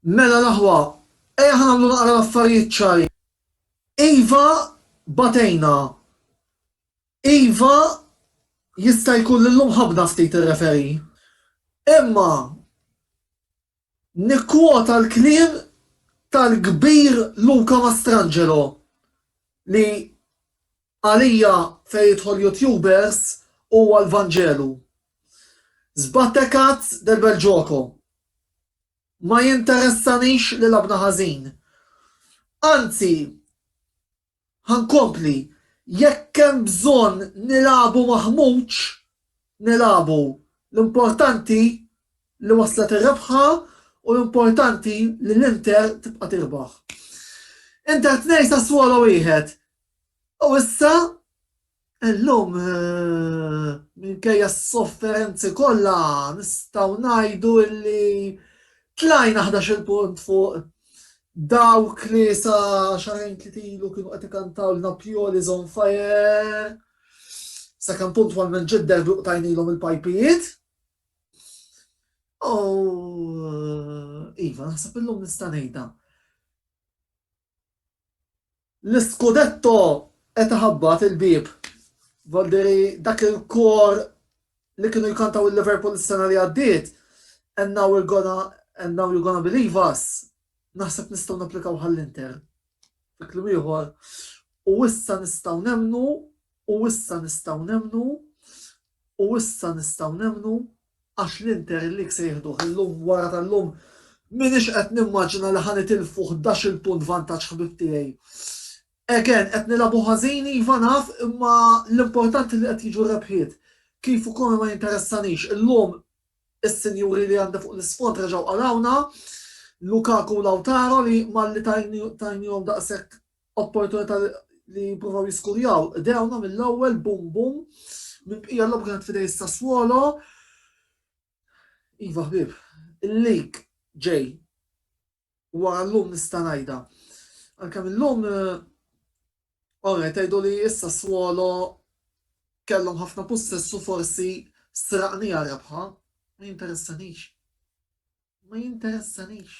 Mela l-aħwa, ejja nagħmlu naqra l-affarijiet ċari. Iva batejna. Iva jista' jkun li llum ħabbna ftit ir-referee. Imma Nikkwota l-kliem tal-kbir Luca Mastrangelo li għalija fejn jidħol YouTubers huwa l-Vanġelu, Sbattecat del bel gioco. Ma jinteressanix li lagħbna ħażin. Anzi, Ħa nkompli, jekk hemm bżonn nilagħbu ma' Ħmut, nilagħbu. L-importanti li waslet ir-rebħa u l-importanti li l-Inter tibqa' tirbaħ. Inter tnejn Sassuolo wieħed u issa Illum, minkejja s-sofferenzi kollha, nistgħu ngħidu li tlajna ħdax-il punt fuq dawk li sa xarejn tliet ilu kienu qed ikantawlna Pioli is on fire, sakemm puntwalment ġie d-derby u qtajnilhom il-pajpijiet. U iva, naħseb illum nista' ngħidha. L-Scudetto qed iħabbat il-bieb. Volderi dak il-kor li kienu jkantaw il-Liverpool is-sena li għaddiet, And now we're gonna, and now you're gonna believe us, naħseb nistgħu napplikaw għall-Inter. Fi kliem ieħor, u issa nistgħu nemmnu, u issa nistgħu nemmnu, u issa nistgħu nemmnu. Għax l-Inter League se jieħduh illum wara tal-lum m'iniex qed nimmaġina li ħa nitilfu ħdax-il punt vantaġġ ħbieb tiegħi. Again, qed nilagħbu ħażin iva naf imma l-importanti li qed jiġu r-rebħiet. Kif u kome ma jinteressanix. Illum is-sinjuri li għandi fuq l-isfond reġgħu qalgħuna, Lukaku u Lautaro li malli tajnihom daqshekk opportunità li jippruvaw jiskurjaw. Dewna mill-ewwel bum bum minn bqija l-lob kienet fidej Sassuolo. Iva ħbib, il-lik ġej wara l-lum nista' ngħidha. Għalkemm illum Ora, tajdu li issa swolo kellhom ħafna possessu forsi straqni rebħa, ma jinteressanix. Ma jinteressanix.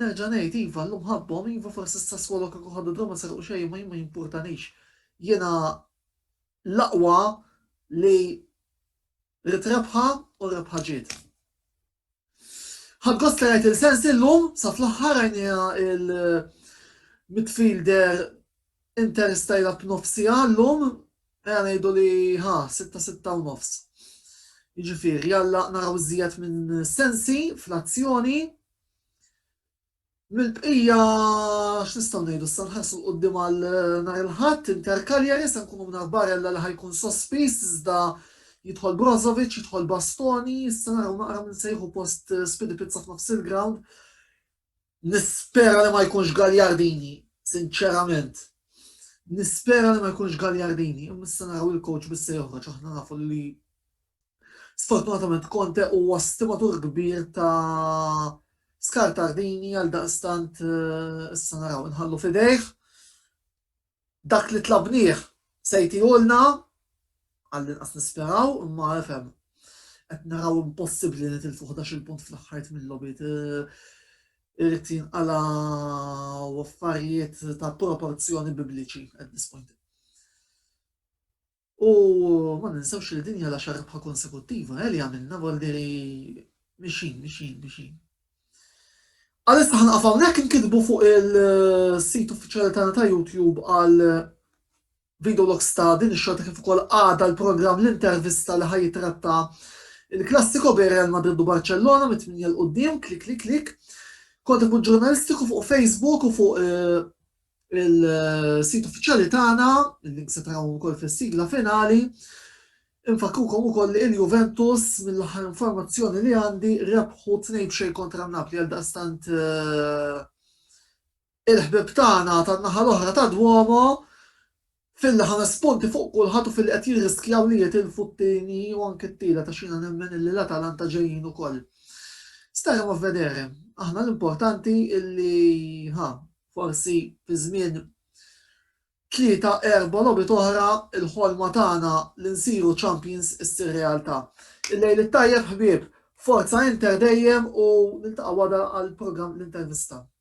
Nerġa' ngħid, iva, llum ħabbhom, iva, forsi issa skolok kieku ħadu dawn ma serqu xejn imma jien ma jimpurtanix. Jiena l-aqwa li ridt rebħa u r-rebħa ġiet. Ħadt gost li rajt lil Sensi llum, sa fl-aħħar rajniha il-midfielder Inter stajla b'nofsiha llum, ejja ngħidu li ħa, sitta sitta u nofs. Jiġifieri, alla naraw iżjed minn Sensi fl-azzjoni. Mill-bqija x'nistgħu ngħidu issa nħarsu 'l quddiem għal nhar il-Ħadd, Inter Cagliari, se nkunu mingħajr Barella li ħa jkun sospiż iżda jidħol Brozovic, jidħol Bastoni, issa naraw naqra min se jieħu post Spidipizza f'nofs il-ground. Nispera li ma jkunx Gagliardini, sinċerament. Nispera li ma jkunx Gagliardini, imma issa naraw il-coach bis se joħroġ, aħna nafu li Sfortunatament Conte huwa stimatur kbir ta' Scartardini għaldaqstant issa naraw inħallu f'idejh dak li tlabnieh se jtiehulna, għallinqas nisperaw, imma ifhem qed naraw impossibbli li nitilfu ħdax-il punt fl-aħħar tmien logħbiet, irid jinqalgħu affarijiet ta' proporzjoni bibliċi at this point. U ma ninsewx li din hija l-għaxar rebħa konsekuttiva eh li għamilna Bordieri mixjin, mixjin, mixjin. Għalissa ħanqaf hawnhekk inkitbu fuq il-sit uffiċjali tagħna ta' YouTube għal video logs ta' din ix-xorta kif ukoll għada l-programm l-intervista li ħajjitratta il-klassiko bejn Real Madrid u Barcellona mit-tminja l-qudiem, klik klik klik. Kont ikun ġurnalistiku fuq Facebook u fuq eh, il-sit uffiċjali tagħna, il-link se tarawhom ukoll fis-sigla finali. Infakkrukom ukoll li l-Juventus, mill-aħħar informazzjoni li għandi, rebħu tnejn b'xejn kontra n-Napli għaldaqstant il-ħbieb tagħna tan-naħa l-oħra tad-Duomo F'illi ħa nirrispondi fuq kulħadd u f'illi qed jirriskjaw li jitilfu t-tieni u anke t-tielet għax jiena nemmen illi l-Atalanta ġejjin ukoll. Staremo a vedere. Aħna l-importanti illi ħa forsi fi żmien tlieta, erbgħa logħbiet oħra l-ħolma tagħna li nsiru champions issir realtà. Il-lejl it-tajjeb ħbieb. Forza Inter dejjem u niltaqgħu għada għall-programm L-Intervista.